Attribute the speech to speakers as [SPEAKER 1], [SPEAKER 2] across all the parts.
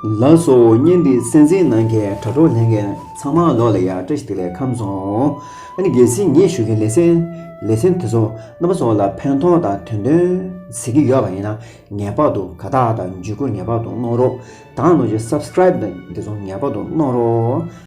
[SPEAKER 1] ལ་སོགས་བསྙེན་པའི་སེམས་ཅན་ནམ་མཁའི་དྲ་གྲོགས་ལྷན་རྒྱས་ཚང་མ་ལོགས་ལ་ཡར་བཀྲ་ཤིས་བདེ་ལེགས་ཁམས་བཟང། རྒྱལ་སྲིད་ངས་ཞུ་མཁན་ལས་སེམས་ལས་སེམས་དེ་ཚོ་རྣམ་པ་ཚོ་ལ་ཕན་ཐོག་དང་དོན་སྟོན་ཟེར་གྱི་ཡོད་པ་ཡིན་ན་ངེས་པར་དུ་དགའ་རྟགས་དང་འཇུས་སྐུལ་ངེས་པར་དུ་གནང་རོགས་དང་ནོར་གྱི Subscribe དང་དེ་ཚོ་ངེས་པར་དུ་གནང་རོགས།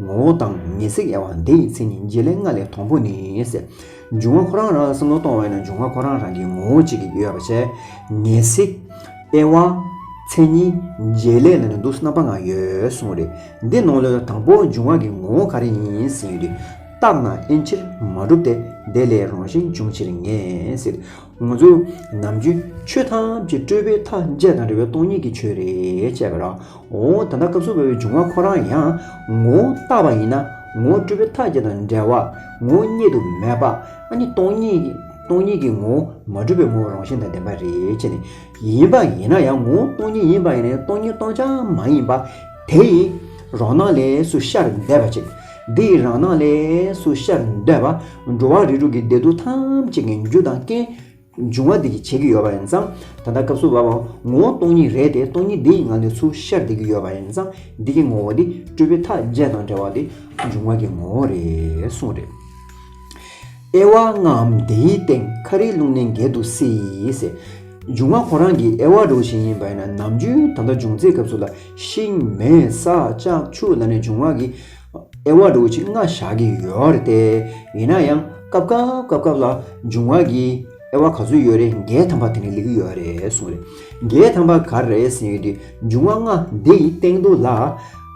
[SPEAKER 1] ངོ་བོ་དང་ངེས་ཚིག་དབྱེ་བ་འདི་ཡི་མཚན་ཉིད་བརྗེ་ལེན་ལྔ་ལས་དང་པོ་ནི། འབྱུང་བ་ཁོ་རང་རང་ལ་བསམ་བློ་གཏོང་བས་ན་འབྱུང་བ་ཁོ་རང་རང་གི་ངོ་བོ་གཅིག་གིས་དབྱེ་བ་བྱས། ངེས་ཚིག། དབྱེ་བ། མཚན་ཉིད། བརྗེ་ལེན་ལ་ནི་འདུ་སྣང་པ་ལྔ་ཡོད་གསུངས་རེད། འདི་ནང་ལོའི་དང་པོ་འབྱུང་བ་གི་ངོ་བོ་ག་རེ་ཡིན་ཟེར་ཡོད་དུས། རྟགས་ན་དབྱེ་ཕྱིར་མ་གྲུབ་སྟེ། དེ་ལས་རང་བཞིན་འབྱུང་ཕྱིར་ངེས་ཚིག། ངོ་ཚོས་ནམ་རྒྱུན་ཆོས་ཐམས་ཅད་སྤྲོས་པའི་མཐའ་འཇལ་དང་འབྲེལ་བའི་སྟོང་ཉིད་ཀྱི་ཆོས་རེད་ཅེས་པའི་རོའོ་ད་ལྟ་སྐབས་སུ་བབས་པའི་འབྱུང་བ་ཁོ་རང་ཡང་ངོ་བོ་རྟག་པ་ཡིན་ན་ངོ་བོ་སྤྲོས་པའི་མཐའ་འཇལ་དང་འབྲེལ་བ་ངོ་བོ་རྙེད་དུ་མེད་པ་ཨ་ནི་སྟོང་ཉིད་ཀྱི་ངོ་བོ་མ་གྲུབ་པའི་ངོ་བོ་རང་བཞིན་དང་ལྡན་པ་རེད་ཅེས་ནི་ཡིན་པ་ཡིན་ན་ཡང་ངོ་བོ་སྟོང་ཉིད་ཡིན་པ་ཡིན་ནས་སྟོང་ཉིད་སྟོང་ཆ་མ་ཡིན་པ་དེ་ཡི་རོ་སྣང་ལས་སུ་ཤར་འདས་པ་ཅིག་འདི་ཡི་རང་སྣང་ལས་སུ་ཤར་འདོད་པ། འགྲོ་བ་རིགས་དྲུག་གི་བདེ་སྡུག་ཐམས་ཅད་ཀྱི་རྒྱུ་དང་རྐྱེན། འབྱུང་བ་འདི་གྱིས་བྱེད་ཀྱི་ཡོད་པ་ཡིན་ཙང། ད་ལྟ་སྐབས་སུ་བབ་པའོ། ངོ་བོ་སྟོང་ཉིད་རེད་དེ་སྟོང་ཉིད་འདི་ཡི་ངང་ལས་སུ་ཤར་བསྡད་ཀྱི་ཡོད་པ་ཡིན་ཙང་འདི་ཀྱི་ངོ་བོ་འདི་སྤྲུལ་པའི་མཐའ་རྒྱས་དང་བྲལ་བ་འདི་འབྱུང་བ་གྱི་ངོ་བོ་རེད་གསུངས་རེད། ཨེ་ཝྃ་ལྔའམ་དེའི་སྟེང་ཁ་རིའི་རླུང་ནི་འགལ་དུ་སྲིད། འབྱུང་བ་ཁོ་རང་གི་ཨེ་ཝྃ་རུ་བཞིན་ཡིན་པ་ཡིན་ན་ནམ་རྒྱུན་ད་ལྟ་འབྱུང་ཚེ་སྐབས་སུ་ལ་ཤིང་མེ་ས་ལྕགས་ཆུ་ལ་ནི་འབྱུང་བ་གི་ཨེ་ཝྃ་རུ་བཞི་ལྔ་བཞག་གི་ཡོད་རེད་དེ། ཡིན་ན་ཡང་སྐབས་སྐབས་སྐབས་སྐབས་ལ་འབྱུང་བ་གི་ཨེ་ཝྃ་ག་ཚོད་ཡོད་རེད་འགལ་དམ་པ་དེ་ནི་ལེགས་གི་ཡོད་རེད་གསུངས། འགལ་དམ་པ་ག་རེད་ཟེར་ཡོད་དུས་འབྱུང་བ་ལྔ་འདི་ཡི་སྟེང་དུ་ལ།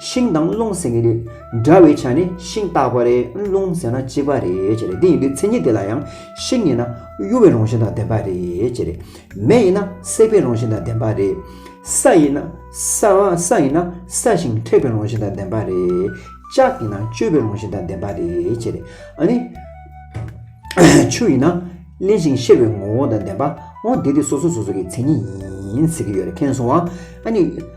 [SPEAKER 1] ཤིང་དང་རླུང་ཟེར་ནི་རེད། འདྲ་བའི་ཆ་ནི་ཤིང་རྟག་པ་རེད་རླུང་ཟེར་ན་གཅིག་པ་རེད་ཅེས་རེད་དེ་ཡིན་དུས་མཚན་ཉིད་དེ་ལ་ཡང་ཤིང་ཡིན་ན་གཡོ་བའི་རང་བཞིན་དང་ལྡན་པ་རེད་ཅེས་རེད། མེ་ཡིན་ན་སྲེག་པའི་རང་བཞིན་དང་ལྡན་པ་རེད། ས་ཡིན་ན་ས་ས་ཡིན་ན་ས་ཞིང་མཁྲེགས་པའི་རང་བཞིན་དང་ལྡན་པ་རེད། ལྕགས་ཡིན་ན་གཅོད་པའི་རང་བཞིན་དང་ལྡན་པ་རེད་ཅེས་རེད། ཨ་ནི། ཆུ་ཡིན་ན་བརླན་ཞིང་གཤེར་བའི་ངོ་བོ་དང་ལྡན་པ་འོ་དེ་དེ་སོ་སོ་སོ་སོ་གི་མཚན་ཉིད་ཡིན་ཟེར་གྱི་ཡོད་རེད་མཁྱེན་སོང་ཨ་ནི།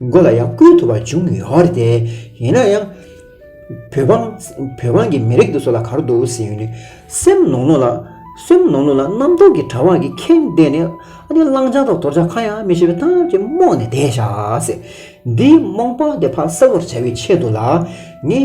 [SPEAKER 1] མགོ་ལ་ཡང་སྐུལ་ཐུབ་པ་བྱུང་ཡོད་རེད་དེ། ཡིན་ན་ཡང། བོད་འབངས། བོད་འབངས་ཀྱི་མི་རིགས་འདི་སོགས་ལ་གར་འདུག་ཟེར་ཡོད་ནི། སེམས་ནོར་ནོར་ལ། སེམས་ནོར་ནོར་ལ་རྣམ་རྟོག་གི་དྲ་བ་གིས་ཁེངས་བསྡད་ནས། ཨ་ནི་གླང་ཆ་དང་དོར་ཆ་གང་ཡང་མི་ཤེས་པའི་ཐབས་ཀྱིས་རྨོངས་ནས་བསྡད་ཤག། འདིའི་རྨོངས་པ་དེ་ཕ་གསལ་བོར་བྱ་བའི་ཆེད་དུ་ལ། ངས།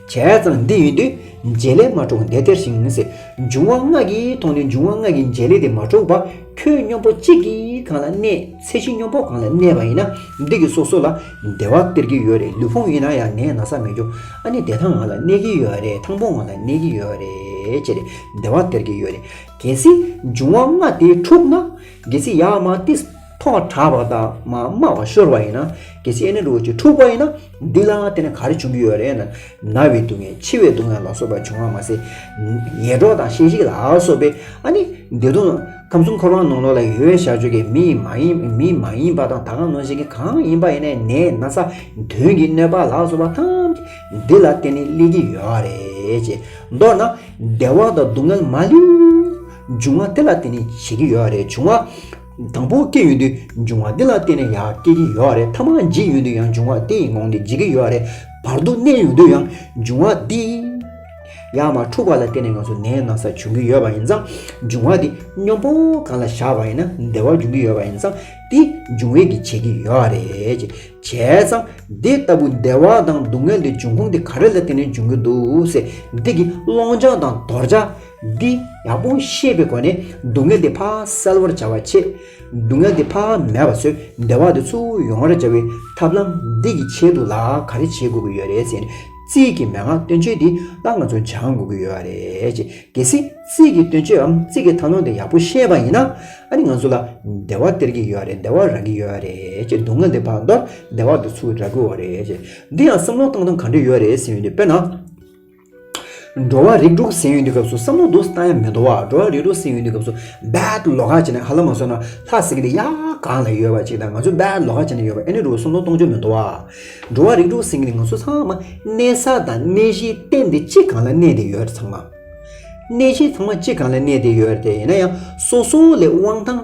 [SPEAKER 1] བྱས་ཙང་འདི་ཡོད་དུས་མཇལ་ལས་མ་འཕྲོག་འདས་སྟེར་ཞིང་ཟེར། འབྱུང་བ་སྔགས་ཀྱིས་མཐོང་ནས་འབྱུང་བ་སྔགས་ཀྱི་མཇལ་ལས་དེ་མ་འཕྲོག་པ་ཁྱོད་སྙོམས་པོ་གཅིག་གིས་གང་ལ་གནས་ཚེ་གཞི་སྙོམས་པོ་གང་ལ་གནས་པ་ཡིན་ན་འདི་གི་སོ་སོ་ལ་བདེ་བ་སྟེར་གྱི་ཡོད་རེད་ལུས་ཕུང་ཡིན་ན་ཡང་ངས་ན་ས་མི་འཇོག་ཨ་ནི་བདེ་ཐང་ང་ལ་གནས་ཀྱི་ཡོད་རེད་ཐང་པོ་ང་ལ་གནས་ཀྱི་ཡོད་རེད་ཅེས་བདེ་བ་སྟེར་གྱི་ཡོད་རེད་གལ་སྲིད་འབྱུང་བ་སྔགས་དེ་འཁྲུགས་ན་གལ་སྲིད་ཡ་མ་ཏིས་ཐོག་དྲགས་པ་དང་མ་དམའ་བ་ཤོར་བ་ཡིན་ན་གལ་སྲིད་ཨེ་ནི་རུ་བོ་ཆེ་འཁྲུགས་པ་ཡིན་ན། འདི་ལའང་དེ་ནི་ག་རེ་བྱུང་གི་ཡོད་རེད་ན། ན་བའི་སྡུག་བསྔལ་འཆི་བའི་སྡུག་བསྔལ་ལ་སོགས་པ་བྱུང་བར་མ་ཟད། ཉེ་གྲོགས་དང་ཤེས་བྱའི་ལ་སོགས་པའི་ཨ་ནི་བདེ་སྡུག། ཁམས་གསུམ་འཁོར་བ་ནང་ལོགས་ལ་ཡོད་བྱ་སྤྱོད་ཀྱི་མི་ཡིན་མ་ཡིན་མི་མ་ཡིན་པ་དང་ད་གང་ནང་བཞིན་གྱི་གང་ཡིན་པ་ཡིན་ནའི་ནས་ན་ས་དོན་གྱི་གནོད་པ་ལ་སོགས་པ་ཐམས་ཅད་འདི་ལ་བརྟེན་ནས་སླེབས་ཀྱི་ཡོད་རེད་ཅེས། མདོར་ན། བདེ་བ་དང་སྡུག་བསྔལ་མ་ལུས། འབྱུང་བ་དེ་ལ་བརྟེན་ནས་བྱེད་ཀྱི་ཡོད་རེད་བྱུང་བ། དང་པོ་སྐྱེས་ཡུན་དུས་འབྱུང་བ་འདི་ལ་བརྟེན་ནས་ཡང་སྐྱེ་གི་ཡོད་རེད་མཐའ་མ་འཇིག་ཡུན་དུས་ཡང་འབྱུང་བ་དེ་ཡི་ངང་ནས་འཇིག་གི་ཡོད་རེད་བར་དུ་གནས་ཡུན་དུས་ཡང་འབྱུང་བ་དེ་ཡང་མ་འཁྲུགས་པ་ལ་བརྟེན་ནས་ང་ཚོ་ནད་ན་ས་བྱུང་གི་ཡོད་པ་ཡིན་ཙང་འབྱུང་བ་དེ་སྨྱོ་འབོག་གང་ལ་བཞག་པ་ཡིན་ན་བདེ་བ་འབྱུང་གི་ཡོད་པ་ཡིན་ཙང་དེ་འབྱུང་བས་ཀྱི་བྱེད་ཀྱི་ཡོད་རེད། བྱས་ཙང་འདི་ལྟ་བུ་བདེ་བ་དང་སྡུག་བསྔལ་འདི་འབྱུང་ཁུངས་དེ་ག་རེ་ལ་བརྟེན་ནས་འབྱུང་གི་འདུག་སེ་འདི་གི་སློང་བྱ་དང་དོར་བྱ། འདི་ཡག་པོ་ཤེས་པའི་སྒོ་ནས་སྡུག་བསྔལ་དེ་ཕག་སེལ་བར་བྱ་བ་ཆེད། སྡུག་བསྔལ་དེ་ཕག་མེད་པ་ཚོའི་བདེ་བ་དེ་ཚུར་ཡོང་བར་བྱ་བའི་ཐབས་ལམ་འདི་གི་ཆེད་དུ་ལ་ག་རེ་བྱེད་དགོས་ཀྱི་ཡོད་རེད་ཟེར་ནས་རྩིས་ཀྱི་མན་ངག་སྟོན་ཆོས་འདི་ལ་ང་ཚོ་སྦྱང་དགོས་ཀྱི་ཡོད་རེད། གལ་སྲིད་རྩིས་ཀྱི་སྟོན་ཆོས་འམ་རྩིས་ཀྱི་ཐབས་ལམ་དེ་ཡག་པོ་ཤེས་པ་ཡིན་ན་ཨ་རི་ང་ཚོ་ལ་བདེ་བ་སྟེར་གྱི་ཡོད་རེད་བདེ་བ་རག་གི་ཡོད་རེད་ཀྱི་སྡུག་བསྔལ་དེ་ཕག་འདོར་བདེ་བ་དེ་ཚུར་རག་གི་འོ་རེད། འདི་ཡང་བསམ་བློ་བཏང་སྟངས་ག་འདྲ་ཡོད་རེད་ཟེར་ཡོད་དེ་དཔེར་ན། འགྲོ་བ་རིགས་དྲུག་ཟིན་ཡོད་དུས་སྐབས་སུ་བསམ་བློ་སྡུག་བཏང་ཡང་མི་འདོར་བ་འགྲོ་བ་རིགས་དྲུག་ཟིན་ཡོད་དུས་སྐབས་སུ་རྦད་ལོ་ཁ་བྱེད་ནས་ཧ་ལམ་མ་གསོན་ན་ལྷ་སྲིན་གྱི་ཡ་གང་ལ་ཡོད་པ་ཅིག་དང་ང་ཚོས་རྦད་ལོ་ཁ་བྱེད་ནས་ཡོད་པ་ཨེ་ནི་རུ་བསམ་བློ་གཏོང་ཆོག་མི་འདོར་བ། འགྲོ་བ་རིགས་དྲུག་ཟིན་གྱི་ང་ཚོ་ཚང་མ་གནས་ས་དང་གནས་གཞིའི་སྟེང་དེ་གཅིག་གང་ལ་གནས་དེ་ཡོད་ཚང་མ། གནས་གཞི་ཚང་མ་གཅིག་གང་ལ་གནས་དེ་ཡོད་དེ་ཡིན་ན་ཡང་སོ་སོ་ལས་དབང་ཐང།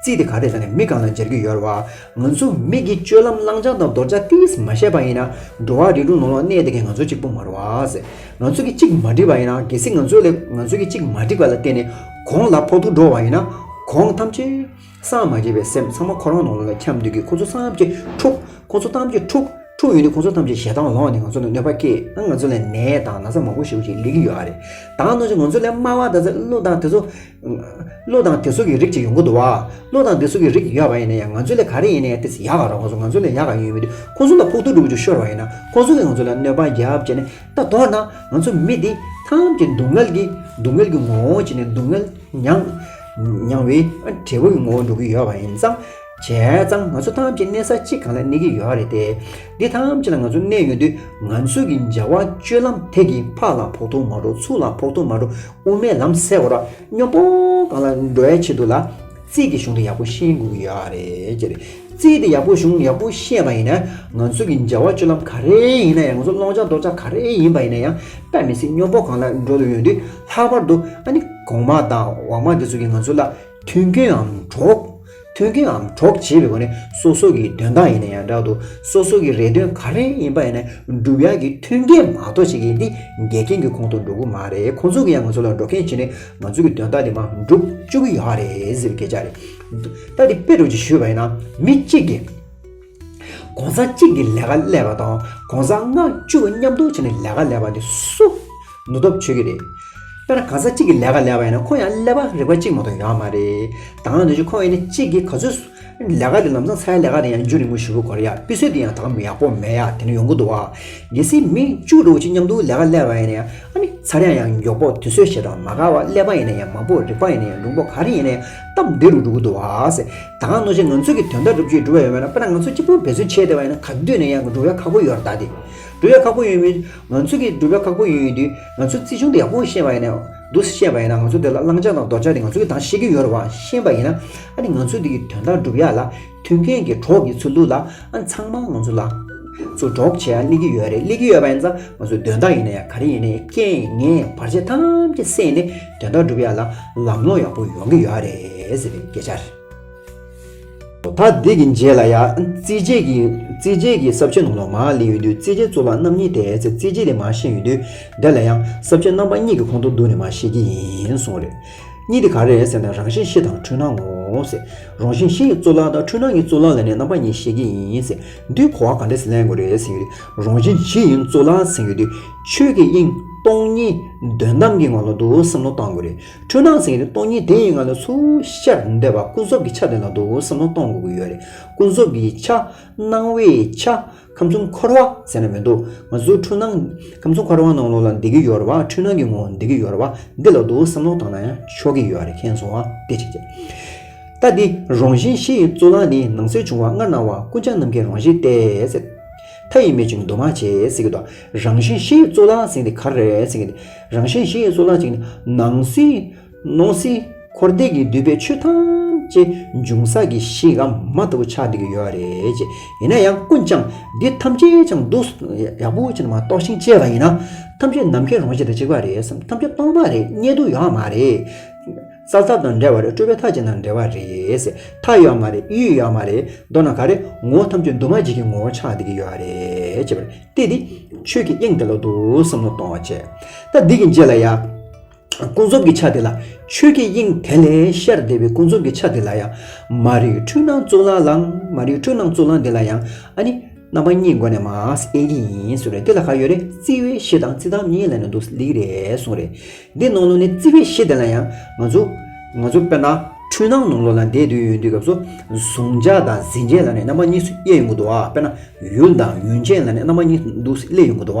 [SPEAKER 1] རྩིས་དེ་ག་དེ་ཟ་ནས་མི་གང་ལ་སྦྱར་གྱི་ཡོད་བ། ང་ཚོ་མིག་གིས་སྤྱོད་ལམ་བླང་བྱ་དང་འདོར་བྱ་ཏིས་མ་ཤེས་པ་ཡིན་ན། འགྲོ་བ་རིགས་དྲུག་ནང་ལོག་གནས་དེ་གས་ང་ཚོ་གཅིག་པུ་མ་རུ་བ། ང་ཚོ་གིས་གཅིག་མ་བསྒྲིགས་པ་ཡིན་ན་གལ་སྲིད་ང་ཚོ་ལས་ང་ཚོ་གིས་གཅིག་མ་བསྒྲིགས་པ་ལ་བརྟེན་ནས་གོང་ལ་ཕོག་ཐུག་འགྲོ་བ་ཡིན་ན། གོང་ཐམས་ཅད། སངས་མ་རྒྱས་པའི་སེམས་ཚང་མ་ཁོ་རང་ནང་ལོག་ལ་འཁྱམས་འདུག་གི་ཁོ་ཚོ་སངས་ཀྱི་འཁྲུག་ཁོ་ཚོ་ཐམས་ཅད་འཁྲུག་འཁྲུག་ཡོད་དུས་ཁོ་ཚོ་ཐམས་ཅད་ཞེ་སྡང་ལོག་ནས་ང་ཚོ་ལ་གནོད་པ་སྐྱེལ་ན་ང་ཚོ་ལ་ནད་དང་ན་ཚ་མང་པོ་ཞེ་པོ་ཞིག་ལེགས་ཀྱི་ཡོད་རེད། དང་ནང་བཞིན་ང་ཚོ་ལས་དམའ་བ་དང་ཚ་གླུ་དང་དེ་ཚོ། བློ་དང་དེ་སོགས་ཀྱི་རིགས་ཅིག་ཡོང་གི་འདུག་བ། བློ་དང་དེ་སོགས་ཀྱི་རིགས་ཅིག་ཡོད་པ་ཡིན་ན་ཡང་ང་ཚོ་ལས་ག་རེ་ཡིན་ནའི་དེ་ཡག་ག་རོགས་ང་ཚོ་ང་ཚོ་ལས་ཡག་ག་ཡོད་མི་འདུག་ཁོང་ཚོ་ལ་ཕོག་ཐུག་འགྲོ་རྒྱུ་ཤོར་བ་ཡིན་ན་ཁོང་ཚོ་གིས་ང་ཚོ་ལ་གནོད་པ་རྒྱབ་ཅེས་ནས་ད་དོག་ན་ང་ཚོ་མི་འདི་ཐམས་ཅད་སྡུག་བསྔལ་གྱི་སྡུག་བསྔལ་གྱི་ངོ་བོ་བྱས་ནས་སྡུག་བསྔལ་མྱངས་མྱངས་བའི་འབྲས་བུ་གྱི་ངོ་བོ་འགྲོ་གི་ཡོད་པ་ཡིན་ཙང། བྱས་ཙང་ང་ཚོ་ཐམས་ཅད་གནས་ས་གཅིག་གང་ལ་གནས་ཀྱི་ཡོད་རེད་དེ། འདི་ཐམས་ཅད་ལ་ང་ཚོ་གནས་ཡོད་དུས་ང་ཚོས་ཀྱི་འཇལ་བ་སྤྱོད་ལམ་ཐད་ཀྱི་ཕག་ལ་ཕོག་ཐུག་མ་འགྲོ་ཚུགས་ལ་ཕོག་ཐུག་མ་འགྲོ་དབུ་མའི་ལམ་གསལ་བོར་སྙོམས་པོ་གང་ལ་འགྲོ་བའི་ཆེད་དུ་ལ་རྩིས་ཀྱི་གཞུང་དེ་ཡག་པོ་ཤེས་དགོས་ཀྱི་ཡོད་རེད་ཀྱི། རྩིས་དེ་ཡག་པོ་གཞུང་ཡག་པོ་ཤེས་པ་ཡིན་ན་ང་ཚོས་ཀྱི་འཇལ་བ་སྤྱོད་ལམ་ག་རེ་ཡིན་ན་ཡང་ང་ཚོ་སློང་བྱ་འདོར་བྱ་ག་རེ་ཡིན་པ་ཡིན་ན་ཡང་དཔེ་མི་སྲིད་སྙོམས་པོ་གང་ལ་འགྲོ་དུ་ཡོད་དུས་ལྷག་པར་དུ་ཨ་ནི་གོང་མ་དང་འོག་མ་དེ་ཚོས་ཀྱི་ང་ཚོ་ལ་མཐུན་རྐྱེན་འམ་གྲོགས། མཐུན་རྐྱེནའམ་གྲོགས་བྱེད་པའི་སྒོ་ནས་སོ་སོ་ཀྱི་དོན་དག་ཡིན་ན་ཡང་འདྲ་འདུག་སོ་སོ་ཀྱི་རེ་འདུན་ག་རེ་ཡིན་པ་ཡིན་ན་འགྲུབ་ཡག་གི་མཐུན་རྐྱེན་མ་གཏོགས་བྱེད་མཁན་འདི་འགལ་རྐྱེན་གྱི་ཁོང་དུ་འགྲོ་གི་མ་རེད་ཁོང་ཚོ་གིས་ཡང་ང་ཚོ་ལ་འགྲོ་མཁན་བྱས་ནས་ང་ཚོ་གི་དོན་དག་འདི་མ་འགྲུབ་བཅུག་གི་ཡག་རེད་ཟེར་བའི་སྐད་ཆ་རེད། ད་འདི་དཔེ་སྒྲོག་ཅིག་ཞུས་པ་ཡིན་ན་མི་གཅིག་གིས། ྋགོང་ས་གཅིག་གིས་ལས་ཀ་ཀླད་པ་དང ྋགོང་ས་ལྔ་བཅུ་བ་མཉམ་དུ་བྱས་ནས་ལས་ཀ་ཀླད་པ་དེ་སུ་ནུ་སྟོབས་ཆོས་ཀྱི་རེད། དཔེར་ན་གང་ས་གཅིག་གིས་ལས་ཀ་ཀླད་པ་ཡིན་ན་ཁོང་ཡང་ཀླད་པ་རིག་པ་གཅིག་མ་གཏོགས་ཡོད་མ་རེད། དང་ནུ་ཆོས་ཁོ་ཡིན་ན་གཅིག་གིས་ག་ཚོད་ལས་ཀ་དེ་ལམ་སང་ཚའི་ལས་ཀ་དེ་ཡང་རྒྱུན་རིང་མོ་ཞུ་གི་གོ་རེ་ཡ་དཔེ་སྲོལ་དེ་ཡང་དག་མི་ཡག་པོ་མེད་ཡ་དེ་ནི་ཡོང་གི་འདུག་བ། གལ་སྲིད་མི་བཅུ་དྲུག་གཅིག་མཉམ་དུ་ལས་ཀ་ཀླད་པ་ཡིན་ན་ཨ་ནི་ཚར་ཡང་ཡང་མགྱོགས་པོ་དུས་ཚོད་ཞེ་དྲག་མ་ག་བ་ཀླད་པ་ཡིན་ན་ཡང་མང་པོ་རིག་པ་ཡིན་ན་ཡང་འབྲུང་པོ་ག་རེ་ཡིན་ན་ཡང། སྟབས་བདེ་རུ་འགྲོ་གི་འདུག་ཨཱ། ད་གང་ནོ་ཆེ་ང་ཚོས་ཀྱི་དོན་དག་སྒྲུབ་བྱེད་འབྲུ་བ་ཡོད་མེད་ལ་དཔེར་ན་ང་ཚོ་གཅིག་པུར་འབད་བརྩོན་བྱས་བསྡད་པ་ཡིན་ན་ག་དུས་ནས་ཡང་འགྲུབ་ཡ་ཁག་པོ་ཡོད་ར་ད་དེ། འགྲུབ་ཡ་ཁག་པོ་ཡོད་མེད། ང་ཚོས་ཀྱི་འགྲུབ་ཡ་ཁག་པོ་ཡོད་ཡོད་དུས་ང་ཚོས་རྩིས་ཆུང་དུ་ཡག་པོ་ཤེས་པ་ཡིན་ན། འདུག་སེ་ཤེས་པ་ཡིན་ན་ང་ཚོ་དེ་ལ་བླང་བྱ་དང་ལྡོག་བྱ་དེ་ང་ཚོ་ཀྱི་དང་ཤེས་ཀྱི་ཡོད་ར་བ་ཤེས་པ་ཡིན་ན། ཨ་ནི་ང་ཚོས་དེ་ཀྱི་དོན་དག་འགྲུབ་ཡ་ལ། མཐུན་རྐྱེན་གྱི་གྲོགས་ཀྱི་ཚུལ་འདུག་ལ་ཚང་མ་ང་ཚོ་ལ། ཚུར་གྲོགས་བྱེད་ཡ་གླེགས་ཀྱི་ཡོད་རེད་གླེགས་ཀྱི་ཡོད་པ་ཡིན་ཙང་ང་ཚོ་དོན་དག་ཡིན་ན་ཡ་ག་རེ་ཡིན་ན་ཡ་རྐྱེན་ངན་བར་ཆད་ཐམས་ཅད་བསྲེས་ནས་དོན་དག་སྒྲུབ་ཡ་ལ་ལམ་ལྷོང་ཡག་པོ་ཡོང་གི་ཡོད་རེད་ཟེར་བའི་སྐད་ཆ་རེད། ད་འདི་གི་རྗེས་ལ་ཡ་རྩིས་བྱེད་ཀྱི་རྩིས་བྱེད་ཀྱི་གསབ་བྱེད་ནང་ལོག་མ་གླེང་ཡོད་དུས་རྩིས་བྱེད་གཙུག་ལག་རྣམ་གཉིས་དེ་ཚེ་རྩིས་བྱེད་དེ་མ་ཤེས་ཡོད་དུས་འདི་ལ་ཡང་གསབ་བྱེད་རྣམ་པ་གཉིས་ཀྱི་ཁོང་དུ་བསྡུ་ནས་མ་ཤེས་ཀྱི་ཡིན་སོང་རེད། གཉིས་དེ་ག་རེད་ཟེར་ན་རང་བཞིན་ཤེས་དང་འཁྲུལ་སྣང་ངོ། རང་བཞིན་ཤེས་ཀྱི་གཙུག་ལག་དང་འཁྲུལ་སྣང་གི་གཙུག་ལག་ལ་ནི་རྣམ་པ་གཉིས་ཤེས་ཀྱི་ཡིན། འདིར་གོ་བ་ག་འདྲས་ལེན་དགོས་རེད་ཟེར་ཡོད། རང་བཞིན་ཤེས་ཡིན་གཙུག་ལག་ཟེར་ཡོད། ཆོས་ཀྱི་དབྱིངས་སྟོང་ཉིད་དོན་དམ་གྱི་ངང་ལ་འདུག་བསམ་བློ་གཏང་དགོས་རེད། འཁྲུལ་སྣང་ཟེར་ཡོད་སྟོང་ཉིད་དེ་ཡི་ངང་ལ་ཚུར་ཤར་འདོད་པ་ཀུན་རྫོབ་ཀྱི་ཆ་དེ་ལ་འདུག་བསམ་བློ་གཏོང་དགོས་ཀྱི་ཡོད་རེད། ཀུན་རྫོབ་ཀྱི་ཆ། སྣང་བའི་ཆ། ཁམས་གསུམ་འཁོར་བ་ཟེར་ན་མི་འདུག་ང་ཚོའི་འཁྲུལ་སྣང། ཁམས་གསུམ་འཁོར་བ་ནང་ལོགས་ལ་འདི་གི་ཡོད་རེད་བ། འཁྲུལ་སྣང་གི་ངོ་བོ་འདི་གི་ཡོད་རེད་བ། འདི་ལ་དུ་བ་བསམ་བློ་བཏང་ན་ཡང་ཆོག་གི་ཡོད་རེད་མཁྱེན་སོང་བ་དེ་བྱེད་ཀྱི། ལྟ་འདི་རང་བཞིན་གཞི་ཡི་གཙུག་ལག་ནི་ནང་གསེས་བྱུང་བ་སྔར་སྣང་བ་ཀུན་བྱང་ནམ་མཁའི་རང་བཞིན་ཏེ། མཐའ་ཡི་མེ་བྱུང་འདུ་མ་བྱས་ཟེར་གྱི་འདུག་རང་བཞིན་གཞི་ཡི་གཙུག་ལག་ཟེར་གྱི་འདི་ག་རེད་ཟེར་གྱི། རང་བཞིན་གཞི་ཡི་གཙུག་ལག་ཅིག་ནི་ནང་གསེས། སྣང་སྲིད་འཁོར་འདས་ཀྱི་འདུས་པའི་ཆོས་ཐམས་ཅད་འབྱུང་ས་ཀྱི་གཞི་ག་མ་ལྟ་བུ་ཆགས་འདི་གི་ཡོད་རེད་ཅེས་ཡིན་ན་ཡང་ཀུན་ཀྱང་འདི་ཐམས་ཅད་ཀྱང་སྡུག་ཡག་པོ་ཅན་མ་རྟོགས་ཤིང་དཔྱད་པ་ཡིན་ན་ཐམས་ཅད་ནམ་མཁའི་རང་བཞིན་དང་གཅིག་པ་རེད་བསམ་ཐམས་ཅད་སྟོང་པ་རེད་རྙེད་དུ་ཡོད་མ་རེད། རྩ་ཚབ་དང་འདྲ་བ་རེད་སྤྲོས་པའི་མཐའ་ཅན་དང་འདྲ་བ་རེད་མཐའ་ཡོད་མ་རེད་ཡུལ་ཡོད་མ་རེད་མདོར་ན་ག་རེ་ངོ་བོ་ཐམས་ཅད་འདུས་མ་བྱས་ཀྱི་ངོ་བོ་ཆགས་འདི་གི་ཡོད་རེད་ཅེས་པར་བལྟས་ཏེ་ཆོས་ཀྱི་དབྱིངས་དེ་ལ་འདུག་བསམ་བློ་གཏོང་བ་བྱས་ད་འདི་གི་རྗེས་ལ་ཡ། ཀུན་རྫོབ་ཀྱི་ཆ་དེ་ལ་ཆོས་ཀྱི་དབྱིངས་དེ་ལས་ཤར་འདས་པའི་ཀུན་རྫོབ་ཀྱི་ཆ་དེ་ལ་ཡང་མ་རིག་འཁྲུལ་སྣང་གཙུག་ལག་ལ་མ་རིག་འཁྲུལ་སྣང་གཙུག་ལག་འདི་ལ་ཡང་ཨ་ནི་རྣམ་པ་གཉིས་སྒོ་ནས་མ་ཨེ་གི་ཡིན་ཟེར་རེད་དེ་ལ་ག་ཡོད་རེད་བརྩི་བའི་གཞི་དང་བརྩི་སྟངས་གཉིས་ལ་ནི་འདུག་ལིག་རེད་གསུངས་རེད་འདི་ནང་ལོ་ནས་བརྩི་བའི་གཞི་དེ་ལ་ཡང་ང་ཚོ་ང་ཚོ་དཔེར་ན་འཁྲུལ་སྣང་ནང་ལོ་ལ་འདས་དུས་ཡུན་དུས་སྐབས་སུ་གཟུང་བྱ་དང་ཟིན་བྱེད་ལ་ནི་རྣམ་པ་གཉིས་སུ་དབྱེ་ཡོང་གི་འདུག་དཔེར་ན་ཡུལ་དང་ཡུན་ཅན་ལ་ནི་རྣམ་པ་གཉིས་སུ་འདུག་སླེ་ཡོང་གི་འདུག་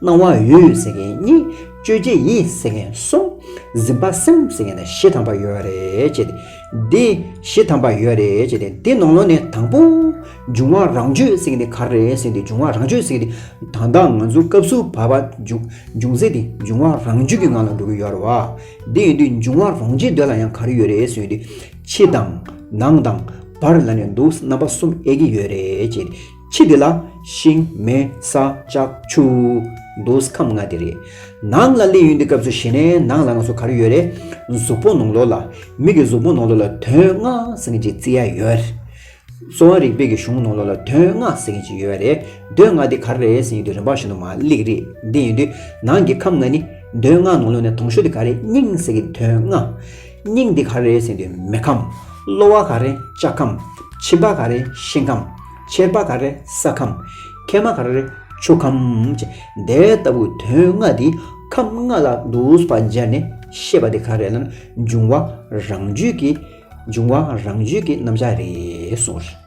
[SPEAKER 1] སྣང་བ་ཡུལ་ཟེར་མཁན་གཉིས། དཔྱོད་བྱེད་ཡིད་ཟེར་མཁན་གསུམ། གཟིམ་པ་སེམས་ཟེར་མཁན་ན་བཞི་ཐམ་པ་ཡོད་རེད་ཅེས་ཏེ། བཞི་ཐམ་པ་ཡོད་རེད་ཅེས་ཏེ་དེ་ནང་ལོགས་ནས་དང་པོ། འབྱུང་བ་རང་བརྗོད་ཟེར་མཁན་དེ་ག་རེད་ཟེར་ཏེ་འབྱུང་བ་རང་བརྗོད་ཟེར་མཁན་དེ་ད་ལྟ་ང་ཚོ་སྐབས་སུ་བབ་པ་འབྱུང་ཟེར་ཏེ་འབྱུང་བ་རང་བརྗོད་ཀྱི་ངང་ལ་འགྲོ་གི་ཡོད་རེད་བ། དེ་ཡིན་དུས་འབྱུང་བ་རང་བརྗོད་འདོད་ལ་ཡང་ག་རེ་ཡོད་རེད་ཟེར་དུས། ཕྱི་དང། ནང་དང། བར་ལ་ནས་འདུག་རྣམ་པ་གསུམ་ཨེ་གི་ཡོད་རེད་ཅེས་ཏེ། ཕྱི་དེ་ལ། ཤིང། མེ། ས། ལྕགས། ཆུ། མདོས། ཁམས་ལྔ་དེ་རེད། ནང་ལ་གླེང་ཡུལ་འདི་སྐབས་སུ་ཞེ་ནས་ནང་ལ་ང་ཚོ་ག་རེ་ཡོད་རེད། གཟུགས་པོ་ནང་ལོགས་ལ། མིག་གི་གཟུགས་པོ་ནང་ལོགས་ལ་དོན་ལྔ་ཟེར་མཁན་གྱི་རྩི་ཡ་ཡོད་རེད། གསོ་བ་རིག་པའི་གི་གཞུང་ནང་ལོགས་ལ་དོན་ལྔ་ཟེར་མཁན་ཅིག་ཡོད་རེད། དོན་ལྔ་དེ་ག་རེ་རེད་ཟེར་ཡུལ་དེ་རིམ་པ་བཞིན་དུ་མ་གླེགས་རེད། དེ་ཡིན་དུས་ནང་གི་ཁམས་ལྔ་ནི། དོན་ལྔ་ནང་ལོགས་ནས་དོང་ཞོ་དེ་ག་རེ་སྙིང་ཟེར་གི་དོན་ལྔ། སྙིང་འདི་ག་རེ་ཟེར་ཏེ་མེ་ཁམས། གློ་བ་ག་རེ་ལྕགས་ཁམས། མཆིན་པ་ག་རེ་ཤིང་ཁམས། མཆེར་པ་ག་རེ་ས་ཁམས། མཁལ་མ་ག་རེ་ཆུ་ཁམས། ཅེས་དེ་ལྟ་བུ་དོན་ལྔ་འདི་ཁམས་ལྔ་ལ་བསྡུས་པ་སྦྱར་ནས་བཤད་པ་འདི་ག་རེ་ལ་འབྱུང་བ་རང་རྒྱུད་ཀྱི་འབྱུང་བ་རང་རྒྱུད་ཀྱི་རྣམ་གཞག་རེད་གསུངས།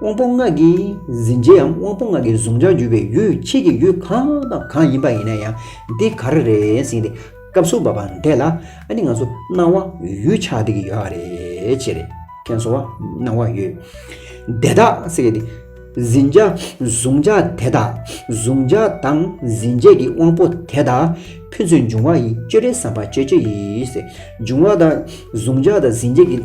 [SPEAKER 1] དབང་པོ་ལྔ་གིས་འཛིན་བྱེད་ཡམ་དབང་པོ་ལྔ་གིས་གཟུང་བྱར་གྱུར་པའི་ཡུལ་ཕྱིས་ཀྱི་ཡུལ་གང་དང་གང་ཡིན་པ་ཡིན་ན་ཡང་འདི་ག་རེ་རེ་ཟིན་ཏེ་སྐབས་སུ་བབ་པ་འདས་ལ་ནི་ང་ཚོ་སྣང་བ་ཡུལ་ཆགས་བསྡད་ཀྱི་ཡོད་ཨ་རེ་ཅེས་རེ་ཁན་སོང་བ་སྣང་བ་ཡུལ་དེ་དག་སེ་གེ་ཏེ། འཛིན་བྱ་གཟུང་བྱ་དེ་དག་གཟུང་བྱ་དང་འཛིན་བྱེད་ཀྱི་དབང་པོ་དེ་དག་ཕུན་ཚོགས་འབྱུང་བ་ཡི་སྤྱོད་རེ་ཟམ་པ་སྤྱོད་བྱེད་ཡིས་འབྱུང་བ་དང་གཟུང་བྱ་དང་འཛིན་བྱེད་ཀྱི།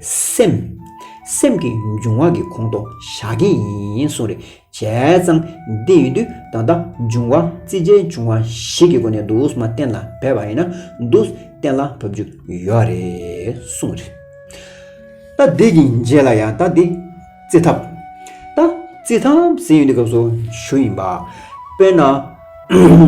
[SPEAKER 1] སེམས། སེམས་ཀྱི་འབྱུང་བ་གི་གོང་དུ་བཞག་གིན་ཡིན་གསུངས་རེ་བྱས་ཙང་འདི་ཡོད་དུས་ད་ལྟ་འབྱུང་བ་རྩིས་བྱའི་འབྱུང་བ་ཞིག་གི་སྒོ་ནས་འདུག་མ་གཏན་ལ་འབེབས་པ་ཡིན་ན་འདུག་གཏན་ལ་བབས་རྒྱུ་ཡོད་རེད་གསུངས་རེ། ད་འདི་གི་རྗེས་ལ་ཡང་ད་འདི་རྩི་ཐབས། ད་རྩི་ཐབས་ཟེར་ཡོད་འདི་སྐབས་སུ་ཞུ་ཡིན་པ། དཔེར་ན།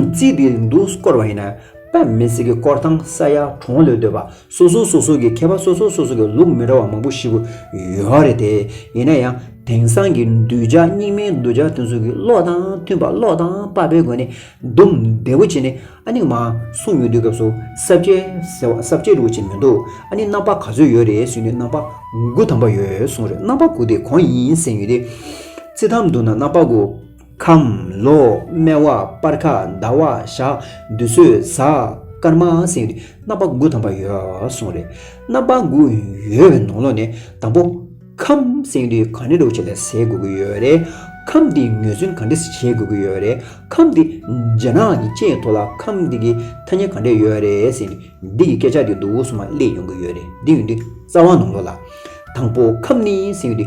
[SPEAKER 1] རྩིས་འདི་འདུག་སྐོར་བ་ཡིན་ན་དཔེ་མི་སྲིད་ཀི་སྐོར་ཐང་ས་ཡ་གྲོང་ལོས་སྡོད་པ་སོ་སོ་སོ་སོ་གི་མཁས་པ་སོ་སོ་སོ་སོ་གི་ལུགས་མི་འདྲ་བ་མང་པོ་ཞིག་པོ་ཡོད་ར་རེད་དེ། ཡིན་ན་ཡང་དེང་སང་གི་གདུལ་བྱ་རྙིང་མའི་གདུལ་བྱ་དེ་ཚོ་གི་བློ་དང་མཐུན་པ་བློ་དང་དཔག་པའི་སྒོ་ནས་བསྡུམ་བདེ་བོ་བྱེད་ནས་ཨ་ནི་མ་གསུངས་ཡོད་དུས་སྐབས་སུ་གསར་བརྗེ་ཟེར་བ་གསར་བརྗེ་རུ་བྱེད་མི་འདུག་ཨ་ནི་རྣམ་པ་ག་ཚོད་ཡོད་རེད་ཟེར་དུས་རྣམ་པ་དགུ་ཐམ་པ་ཡོད་གསུངས་རེད་རྣམ་པ་དགུ་དེ་གང་ཡིན་ཟེར་ཡོད་དུས། རྩི་ཐམ་དུ་ན་རྣམ་པ་དགུ། ཁམས། ལོ། སྨེ་བ། སྤར་ཁ། ཟླ་བ། ཞག། འདུས་ཚོད། གཟའ། སྐར་མ། སེང་རི། རྣམ་པ་དགུ་ཐམ་པ་ཡོད། གསུང་རེད། རྣམ་པ་དགུ་ཡོད་པའི་ནང་ལོགས་ནས་དང་པོ། ཁམས། སེང་རི་ག་འདྲེ་འདྲོགས་བྱས་ལས་བྱེད་དགོས་ཀྱི་ཡོད་རེད། ཁམས་འདི་ངོས་ཟིན་ག་འདྲེ་བྱེད་དགོས་ཀྱི་ཡོད་རེད། ཁམས་འདི། རྒྱ་ནག་གི་ལྕེ་ཡི་ཐོག་ལ་ཁམས་འདི་གི་ཐ་སྙད་ག་འདྲེ་ཡོད་རེད་ཟེར་ནས་འདི་གི་སྐད་ཆ་འདི་འདུག་གསུང་བ་གླེང་ཡོང་གི་ཡོད་རེད་འདི་ཡོང་དུས་རྩ་བ་ནང་ལོགས་ལ། དང་པོ་ཁམས་ནི་སེང་རི།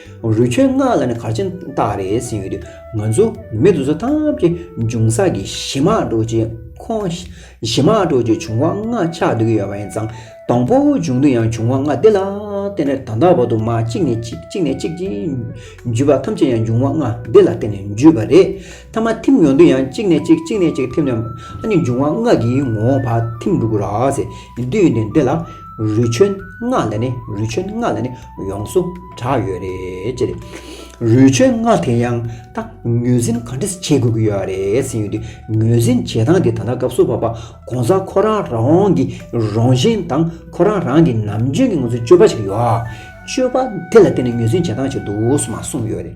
[SPEAKER 1] རུས་ཆོད་སྔགས་ལ་ནི་གར་ཆེན་བཏགས་རེ་ཟིན་ཡོད་དུས་ང་ཚོ་མི་དུ་ཚོ་ཐམས་ཅད་འབྱུང་ས་ཀྱི་གཞི་མ་གྲོགས་ཀྱི་ཁོངས་གཞི་མ་གྲོགས་ཀྱི་འབྱུང་བ་ལྔ་ཆགས་འདུག་གི་ཡོད་པ་ཡིན་ཙང་དང་པོ་འབྱུང་དུས་ཡང་འབྱུང་བ་ལྔ་དེ་ལ་བརྟེན་ནས་ད་ལྟ་བར་དུ་མ་གཅིག་ནས་གཅིག་གཅིག་ནས་གཅིག་བརྒྱུད་པ་ཐམས་ཅད་ཡང་འབྱུང་བ་ལྔ་དེ་ལ་བརྟེན་ནས་བརྒྱུད་པ་རེད། མཐའ་མ་ཐིམ་ཡོང་དུས་ཡང་གཅིག་ནས་གཅིག་གཅིག་ནས་གཅིག་ཐིམ་ནས། ཨ་ནི་འབྱུང་བ་སྔགས་ཀྱི་ངོ་བོ་བར་ཐིམ་འགྲོ་དགོས་ར་ཟེ་འདི་ཡོད་ནས་འདི་ལ། རུས་ཆོད་སྔགས་ལ་ནི་རུས་ཆོད་སྔགས་ལ་ནི་ཡོངས་སུ་གྲགས་ཡོད་རེད་ཅེ། རུས་ཆོད་སྔགས་དེ་ཡང་ད་ངོས་ཟིན་ག་འདྲས་བྱེད་དགོས་ཀྱི་ཡོད་རེད་ཟེར་ཡོད་དུས་ངོས་ཟིན་བྱེད་སྟངས་དེ་ད་ལྟ་སྐབས་སུ་བབ་པ་གོང་ས་ཁོ་རང་རང་གི་རང་བཞིན་དང་ཁོ་རང་རང་གི་ནམ་རྒྱུན་གྱི་ང་ཚོའི་སྤྱོད་པ་ཞིག་ཡོད། སྤྱོད་པ་དེ་ལ་བརྟེན་ནས་ངོས་ཟིན་བྱེད་སྟངས་ཞིག་འདུག་སོ་མ་གསུངས་ཡོད་རེད།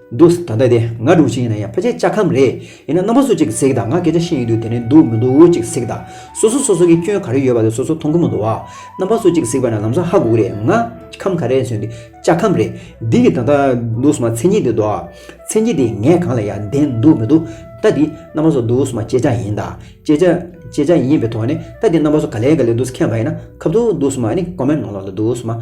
[SPEAKER 1] འདུག་ད་ལྟ་དེ་ང་སྒྲུག་བྱེད་ཡིན་ན་ཡང་ཕལ་ཆེར་ལྕགས་ཁམས་རེད། ཡིན་ན་རྣམ་པ་སུ་གཅིག་གཟིགས་དང་ང་སྐད་ཆ་ཤེས་ཡོད་དུས་དེ་ནས་འདུག་མི་འདུག་གཅིག་གཟིགས་དང། སོ་སོ་སོ་སོ་གི་སྐྱོན་ག་རེ་ཡོད་པ་དེ་སོ་སོ་མཐོང་གི་མི་འདུག་བ། རྣམ་པ་སུ་གཅིག་གཟིགས་པ་ན་ལམ་སང་ཧ་གོ་གི་རེད་ང། ཁམས་ག་རེ་ཟོས་འདི། ལྕགས་ཁམས་རེད། འདི་གི་ད་ལྟ། འདུག་སོང་བ་མཚན་ཉིད་དེ་འདུག། མཚན་ཉིད་དེ་ངས་གང་ལ་ཡང་བདེན་འདུག་མི་འདུག་ད་དེ། རྣམ་པ་སུ་འདུག་སོང་བ་ཅེ་ལྕགས་ཡིན་ད། ཅེ་ལྕགས། ཅེ་ལྕགས་ཡིན་པའི་ཐོག་ནས་ད་དེ་རྣམ་པ་སུ་ག་ལས་ག་ལས་འདུག་ཁྱད་མ་ཡིན་ན་ཁབ་ཏུ་འདུག་སོང་བ་ནི་ཀོ་མེན་ནོ་ལོ་ལ་འདུག་སོང་བ།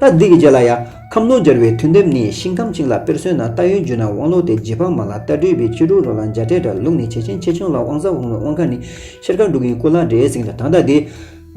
[SPEAKER 1] ལྟ་འདི་གི་རྗེས་ལ་ཡང་ཁམས་ནོར་སྦྱར་བའི་དུས་འདེབས་ནི་ཤིང་ཁམས་བཅིངས་ལ་དཔེར་སོན་ན་རྟ་ཡོན་རྒྱུད་ན་དབང་ལུགས་ཏེ་རྗེ་འཕགས་མ་ལ་རྟ་སྦྲུལ་བའི་ཁྱི་ཕྲུག་རོ་ལངས་འཇའ་སྤྲད་འདྲ་ལུགས་ནི་བྱེད་ཆེན་ཆེ་ཆུང་ལ་དབང་ཟབ་དབང་ལུགས་དབང་ཁ་ནི་ཤེལ་དཀར་འབྲུག་གི་སྐུ་ལ་འདྲའི་གཟིངས་ལ་དང་རྟ་འདི།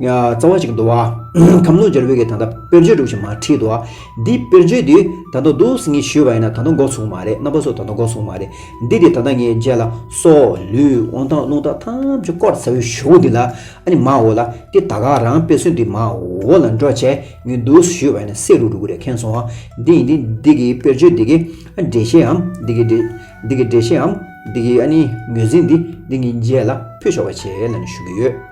[SPEAKER 1] རྩ་བ་ཅིག་འདུ་བ། ཁམས་ནོར་སྦྱར་བུ་གའི་དང་རྟ་དཔེར་བརྗོད་གྲུབ་ཆེན་མ་ཁྲིད་དོ། འདིའི་དཔེར་བརྗོད་དུས་ད་དུང་བསྡུ་བསྲི་ངེས་ཞུས་པ་ཡིན་ན་ད་དུང་འགོག་ཚུགས་མ་རེད་རྣམ་པ་སོགས་ད་དུང་འགོག་ཚུགས་མ་རེད་འདི་དེ་ད་ལྟ་ངའི་རྗེས་ལ་སོ། ལུས། དབང་ཐང་རླུང་ཐང་ཐམས་ཅད་བསྐོར་ཚར་བའི་ཞོ་བོ་འདི་ལ་ཨ་ནི་མའོ་ལ་སྟེ་ད་ག་རང་དཔེ་སོན་དུས་མའོ་ལ་འགྲོ་བྱས། ངའི་འདུག་ཟེར་ཞུས་པ་ནི་བསེ་རུ་འགྲོ་གི་རེད་མཁན་སོང་བ་འདི་ཡིན་འདི་འདི་གི་དཔེར་བརྗོད་འདི་གི་འགྲེལ་བཤད་འམ་འདི་གི་འགྲེལ་འདི་གི་འགྲེལ་བཤད་འམ་འདི་གི་ཨ་ནི་ངོས་འཛིན་འདི་འདི་ངའི་རྗེས་ལ་ཕུལ་ཆོག་པ་བྱེད་ལ་ནི་ཞུ་གི་ཡོད།